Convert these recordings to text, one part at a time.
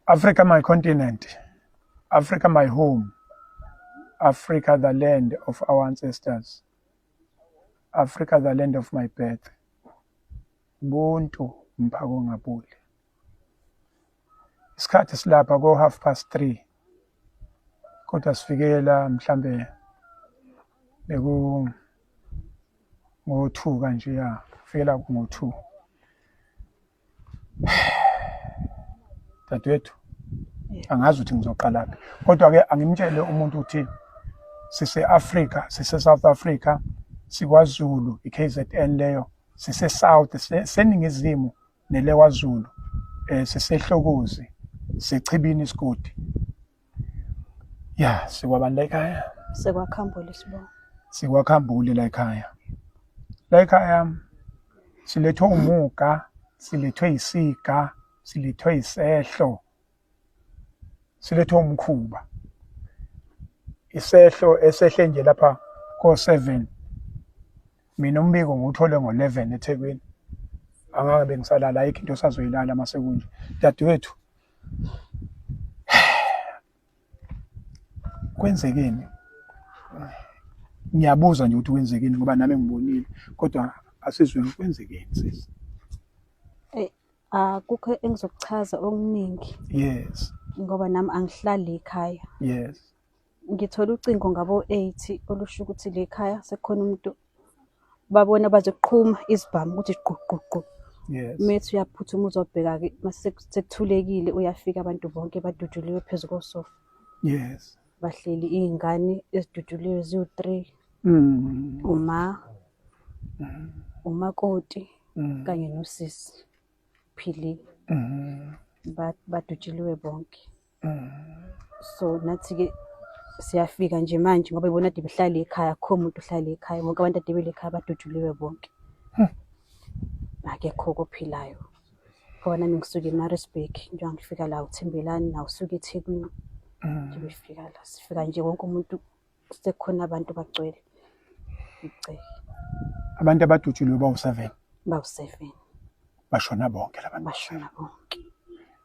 Africa my continent Africa my home Africa the land of our ancestors Africa the land of my birth Ubuntu mphako ngabuli isikhathi silapha ko half past 3 kodwa sifikela mhlambe beku ngo-two kanjeya kufikela ngo-two dadewethu angazi ukuthi ngizoqalaphi kodwa-ke angimtshele umuntu ukuthi sise-afrika sise-south africa sikwazulu i-k z n leyo sise-south seningizimu nelewazulu um eh, sisehlokozi sechibini isigodi Ya, sikwabantu la ekhaya. Sekwakhambule sibonga. Sikwakhambule la ekhaya. La ekhaya silethwe umuga, silethwe isiga, silethwe isehlo. Silethwe umkhuba. Isehlo esehle nje lapha ko 7. Mina umbiko ngiwuthole ngo 11 eThekwini. Angangabe ngisalala ayikho into osazoyilala masekunje. Dadewethu kwenzekeni ngiyabuza nje ukuthi kwenzekeni ngoba nami ngibonile kodwa asizweni kwenzekeni sisi eh akukho engizokuchaza okuningi yes ngoba nami angihlali ekhaya yes ngithole ucingo ngabo-eight olusho ukuthi le khaya sekukhona umuntu babona bazoqhuma izibhamu ukuthi gquqququ methi uyaphuthuma uzobheka-ke masekuthulekile uyafika abantu bonke baduduliwe phezu kosofa yes bahleli iy'ngane eziduduliwe ziwu-three mm. uma mm. umakoti mm. kanye nosisi phili mm. badutshuliwe bonke so nathi-ke siyafika nje manje ngoba ibona ade behlale ekhaya akho muntu ohlale ekhaya bonke abantu ade bele ekhaya baduduliwe bonke akekho kophilayo ngoba nami ngisuke emarisburg njengoba ngifika la uthembelani naw usuke ethekwini nje befika la sifika nje wonke umuntu kusekhona abantu bagcwele ngicela abantu abadutshuliwe bawu-seven bawu-seven bashona bonke laba bashona bonke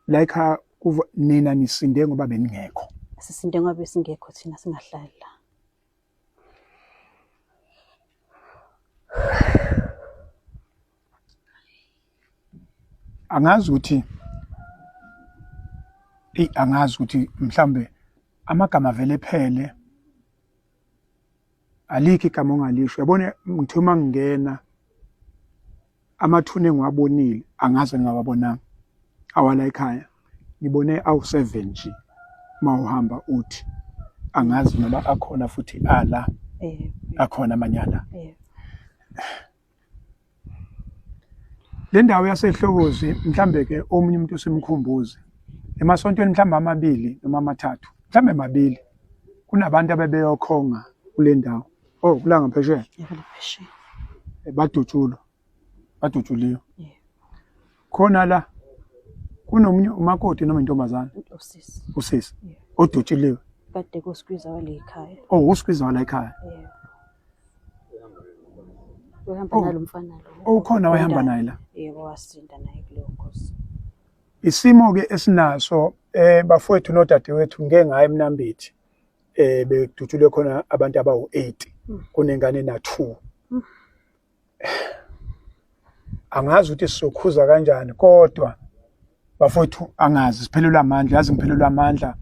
like uh, kuva nina nisinde ngoba beningekho sisinde ngoba besingekho thina singahlali la angazi ukuthi eyi angazi ukuthi mhlawumbe amagama vele ephele alikho igama ongalisho yabona ngithe uma ngingena amathuna engiwabonile angaze ngingawabonanga awala ekhaya ngibone awu-seven nje uma uhamba uthi angazi noma akhona futhi ala eh, eh. akhona amanyala eh. Le ndawo yasehlokozi mhlambe-ke omunye umuntu usimkhumbuze emasontweni mhlawumbe amabili noma amathathu mhlawumbe mabili kunabantu abebeyokhonga kule ndawo o oh, kulanga phesheya eh, badutshulwa badutshuliwe khona la kunomunye umakoti noma intombazana usisi usisi odutshiliwe kade kuskwiza wale ekhaya oh uskwiza wale ekhaya uhamba oh. nalomfana lo oh, ukhona wayehamba naye la yebo wasinda naye kuleyo nkosi isimo ke esinaso eh bafowethu nodadewethu ngeke ngaye emnambithi eh bedutshulwe khona abantu abawu8 hmm. kunengane na2 hmm. angazi ukuthi sizokhuza kanjani kodwa bafowethu angazi siphelelwe amandla yazi ngiphelelwe amandla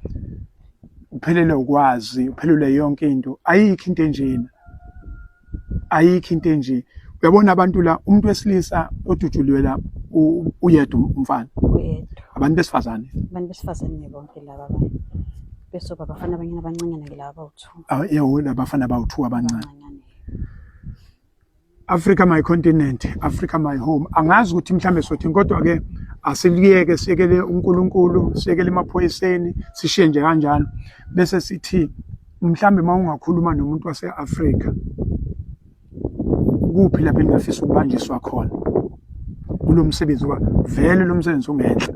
uphelele ukwazi uphelele yonke into ayikho into enjena ayikho into enje uyabona abantu la umuntu wesilisa odutshuliwe la uyedwa umfana abantu besifazane abantu besifazane bonke laba abantu bese babafana abanye abancanyana ke laba bawu-two yebo labafana bawu-two abancane Africa my continent, Africa my home. Angazi ukuthi mhlambe sothini kodwa ke asiliyeke siyekele uNkulunkulu, siyekele emaphoyiseni, sishiye nje kanjalo bese sithi mhlambe mawungakhuluma nomuntu waseAfrica kuphi lapho engafisa ukubanjiswa khona kulomsebenzi wa vele lomsebenzi ungenhla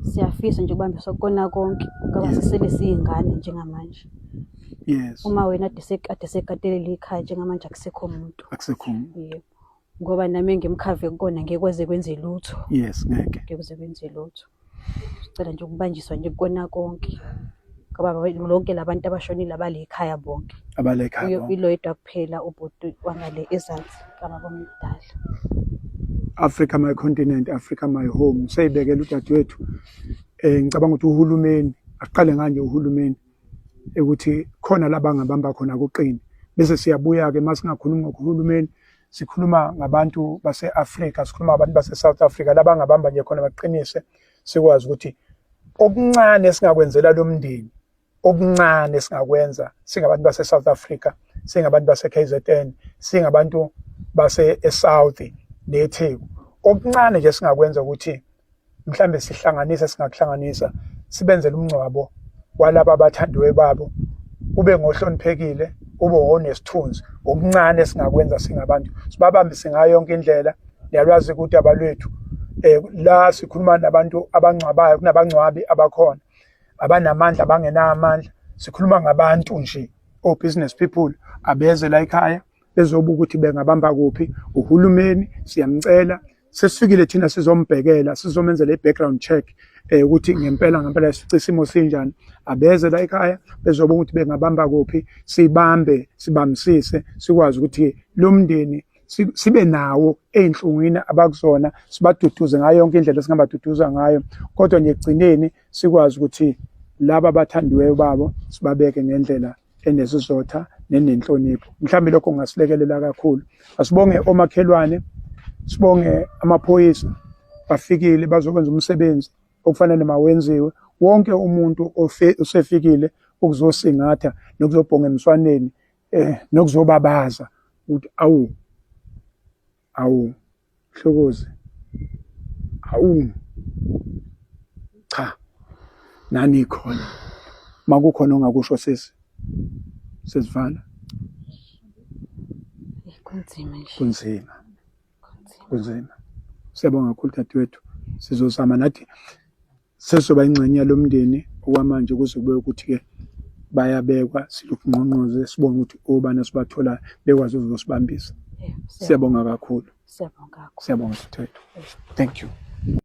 siyafisa nje ukubambiswa kukona konke ngoba sisele siyingane njengamanje yes uma wena ade sekatelele ikhaya njengamanje akusekho muntu akusekho muntu yebo ngoba nami ngimkhave kukona ngekwaze kwenze lutho yes ngeke ngekwaze kwenze lutho sicela nje ukubanjiswa nje kukona konke ngoba lonke labantu abashonile abale ekhaya bonke abale ekhaya bonke ilo yedwa kuphela ubhuti wangale ezansi kama komdala Africa my continent Africa my home sayibekela udadewethu eh ngicabanga ukuthi uhulumeni aqale nganje uhulumeni ukuthi khona la bangabamba khona kuqine. Bese siyabuya-ke uma singakhulumi ngohulumeni, sikhuluma ngabantu base-Afrika, sikhuluma ngabantu base-South Africa, la bangabamba nje khona baqinise, sikwazi ukuthi okuncane esingakwenzela lo mndeni, okuncane esingakwenza singabantu base-South Africa, singabantu base-KZN, singabantu base-eSouth neTheku. Okuncane nje esingakwenza ukuthi mhlambe sihlanganisa singakuhlanganisa sibenzele umngcwabo walaba abathandiwe babo ube ngohloniphekile ube wonesithunzi okuncane esingakwenza singabantu sibabambise ngayo yonke indlela niyalwazi ukuthi abalwethu eh la sikhuluma nabantu abangcwabayo kunabangcwabi abakhona abanamandla abangenamandla sikhuluma ngabantu nje o business people abeze la ekhaya bezobuka ukuthi bengabamba kuphi uhulumeni siyamcela sesifikile thina sizombhekela sizomenzela i-background check um ukuthi ngempela ngempela sici isimo sinjani abeze la ekhaya bezobona ukuthi bengabamba kuphi sibambe sibambisise sikwazi ukuthi lo mndeni sibe nawo ey'nhlungwini abakuzona sibaduduze ngayo yonke indlela esingabaduduza ngayo kodwa nje ekugcineni sikwazi ukuthi laba abathandiweyo babo sibabeke ngendlela enesizotha nenenhlonipho mhlawumbe lokho kungasilekelela kakhulu asibonge omakhelwane sibonge amaphoyisa bafikile bazokwenza umsebenzi okufanele mawenziwe wonke umuntu osefikile ukuzosingatha nokuzobhonga emswaneni eh nokuzobabaza ukuthi awu Awu Hlokozi. Awu. Cha. Nani khona. Makukhona ongakusho sisi. Sesivala. Kunzima nje. Kunzima. Kunzima. Siyabonga kakhulu dadewethu. Sizozama nathi sesoba ingxenye yalomndeni okwamanje kuze kube ukuthi-ke bayabekwa silokhu ngqongqoze sibone ukuthi obani esibathola bekwazi ukuzosibambisa siyabonga kakhulu siyabonga siyabonga sithetho thank you